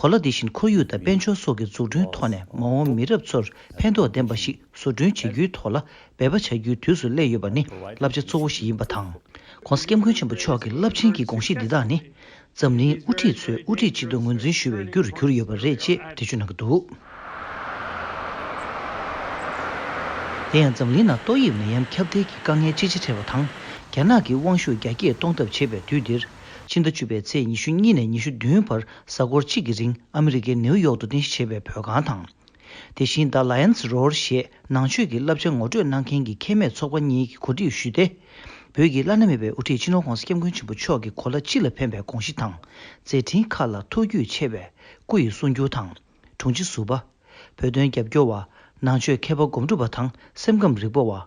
གོ་ལ་འདི་བཞིན་ཁོར་ཡུག་དང་དཔལ་འབྱོར་སོགས་ཀྱི་འཛུགས་སྐྲུན་ཐོག་ནས་མ་འོངས་མི་རབས་ཚོར་ཕན་ཐོགས་ལྡན་པ་ཞིག་བཟོ་སྐྲུན་བྱེད་རྒྱུའི་ཐོག་ལ་འབད་པ་བྱ་རྒྱུའི་དུས་སུ་སླེབས་ཡོད་པ་ནི་བསླབ་བྱ་གཙོ་བོ་ཞིག་ཡིན་པ་དང། ྋགོང་ས ྋསྐྱབས་མགོན་ཆེན་པོ་མཆོག་གི་རླབས་ཆེན་གྱི་དགོངས་གཞི་འདི་དག་ནི། འཛམ་གླིང་དབུ་ཁྲིད་ཚོས་དབུ་ཁྲིད་ཅིག་ཏུ་ངོས་འཛིན་ཞུ་བའི་རྒྱུར་གྱུར་ཡོད་པ་རེད་ཅེས་འགྲེལ་བརྗོད་གནང་གི་འདུག། དེ་ཡང་འཛམ་གླིང་ནང་ཏོག་དབྱིབས་ནད་ཡམས་ཁྱབ་གདལ་གྱི་དཀའ་ངལ་ཅི་ཆེ་འཕྲད་པ་དང་རྒྱ་ནག་གིས་དབང་ཤུགས་རྒྱ་སྐྱེད་གཏོང་ཐབས་བྱེད་པའི་དུས་འདིར། ཕྱི་ཟླ་བཅུ་པའི་ཚེས་ཉི་ཤུ་གཉིས་ནས་ཉི་ཤུ་བདུན་བར་གཟའ་འཁོར་གཅིག་གི་རིང་ཨ་མི་རི་ཀའི་ནེའུ་ཡོག་ཏུ་རྟེན་གཞི་བྱས་པའི་བོད་ཁང་དང། དེ་བཞིན The Lions Roar ཞེས་ནང་ཆོས་ཀྱི་བསླབ་བྱ་ངོ་སྤྲོད་གནང་མཁན་གྱི་ཁྱད་མེད་ཚོགས་པ་གཉིས་ཀྱི་གོ་སྒྲིག་ཞུས་ཏེ། བོད་ཀྱི་བླ་ན་མེད་པའི་དབུ་ཁྲིད་སྤྱི་ནོར ྋགོང་ས ྋསྐྱབས་མགོན་ཆེན་པོ་མཆོག་གི་གོ་ལ་སྤྱི་ལ་ཕན་པའི་དགོངས་གཞི་དང་མཛད་འཕྲིན་ཁག་ལ་ཐུགས་རྒྱུས་ཆེ་བའི་སྐུ་ཡི་གསུང་བསྒྱུར་དང། དྲུང་ཆེ་ཟུར་པ། བོད་དོན་རྒྱབ་སྐྱོར་བ། ནང་ཆོས་མཁས་པ་སྒོམ་སྒྲུབ་པ་དང་སེམས་ཁམས་རིག་པ་བ།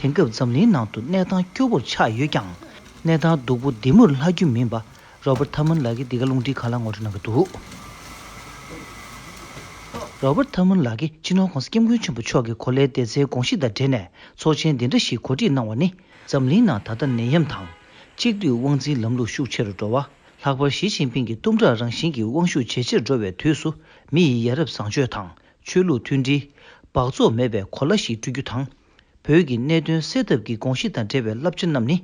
དེང་སྐབས་འཛམ་གླིང་ནང་དུ་གནས་སྟངས་སྐྱོ་བོར་ཆགས་ཡོད་ཀྱང། གནས་སྟངས་སྡུག་པོ་འདི་མུར་ལྷག་རྒྱུ་མིན་པ་རོ་པར་ཐཱ་མོན་ལགས་ཀྱིས་འདི་ག་རླུང་འཕྲིན་ཁང་ལ་ངོ་སྤྲོད་གནང་གི་འདུག། རོ་པར་ཐཱ་མོན་ལགས་ཀྱིས་སྤྱི་ནོར་ཁོང་སྐྱབས་མགོན་ཆེན་པོ་མཆོག་གི་གོ་ལའི་བདེ་རྩའི་དགོངས་གཞི་དང་འབྲེལ་ནས་ཚོགས་ཆེན་འདི་འདྲ་ཞིག་གོ་སྒྲིག་གནང་བ་ནི། འཛམ་གླིང་ནང་ད་ལྟ་ནད་ཡམས་དང། གཅིག་སྡུད་དབང་འཛིན་ལམ་ལུགས་ཤུགས་ཆེ་རུ་འགྲོ་བ། ལྷག་པར་ཞི་ཅིན་ཕིང་གི་གཏུམ་དྲག་རང་བཞིན་གྱི་དབང་ཤུགས་ཇེ་ཆེར་འགྲོ་བའི་དུས་སུ་མི་ཡི་ཡ་རབས་བཟང་སྤྱོད་དང་ཆོས་ལུགས་མཐུན་སྒྲིལ། སྦགས་བཙོག་མེད་པའི་གོ་ལ་ཞིག་བསྐྲུན་རྒྱུ་དང། བོད་ཀྱི་གནད་དོན་སེལ་ཐབས་ཀྱི་དགོངས་གཞི་དང་འབྲེལ་བའི་བསླབ་བྱ་རྣམས་ནི་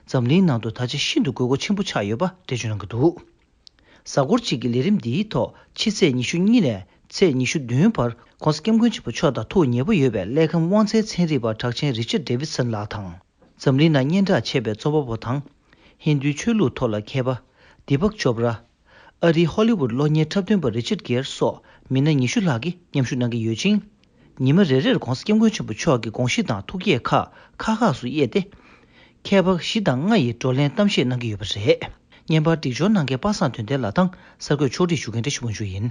འཛམ་གླིང་ནང་དུ་ད་ཆ་ཤིན་ཏུ་དགོས་མཁོ་ཆེན་པོ་ཆགས་ཡོད་པ་འགྲེལ་བརྗོད་གནང་གི་འདུག་གཟའ་འཁོར་གཅིག་གི་ལས་རིམ་འདིའི་ཐོག་ཕྱི་ཚེས་ཉི་ཤུ་གཉིས་ནས་ཚེས་ཉི་ཤུ་བདུན་བར ྋགོང་ས ྋསྐྱབས་མགོན་ཆེན་པོ་མཆོག་དང་ཐུགས་མཉེས་པོ་ཡོད་པའི་ཀླད་ཁམས་དབང་ཆའི་ཚན་རིག་པ་གྲགས་ཅན་རི་ཆར David Sun ལགས་དང། འཛམ་གླིང་ནང་སྙན་གྲགས་ཆེ་བའི་རྩོམ་པ་པོ་དང། ཧིན་དུའི་ཆོས་ལུགས་ཐོག་ལ་མཁས་པ Deepak Chopra། ཨ་རིའི་ཧོ་ལི་ཝུད་གློག་བརྙན་འཁྲབ་སྟོན་པ་རི་ཆར་གེར་སོགས་མི་སྣ་ཉི་ཤུ་ལྷག་གིས་མཉམ་ཞུགས་གནང་གི་ཡོད་ཅིང། ཉི་མ་རེ་རེར ྋགོང་ས ྋསྐྱབས་མགོན་ཆེན་པོ་མཆོག་གི་དགོངས་གཞི་དང་ཐུགས་བསྐྱེད་ཁག་ཁག་ཁག་སུ་དབྱེ་སྟེ། མཁས་པ་བཞི་དང་ལྔ་ཡིས་བགྲོ་གླེང་གཏམ་བཤད་གནང་གི་ཡོད་པ་རེད། བརྙན་པར་སྒྲིག་སྦྱོར་གནང་མཁན་པ་སངས་དོན་ལྡན་ལགས་དང་གསར་འགོད་ཕྱོགས་སྒྲིག་ཞུ་མཁན་བཀྲ་ཤིས་དབང་ཕྱུག་ཡིན།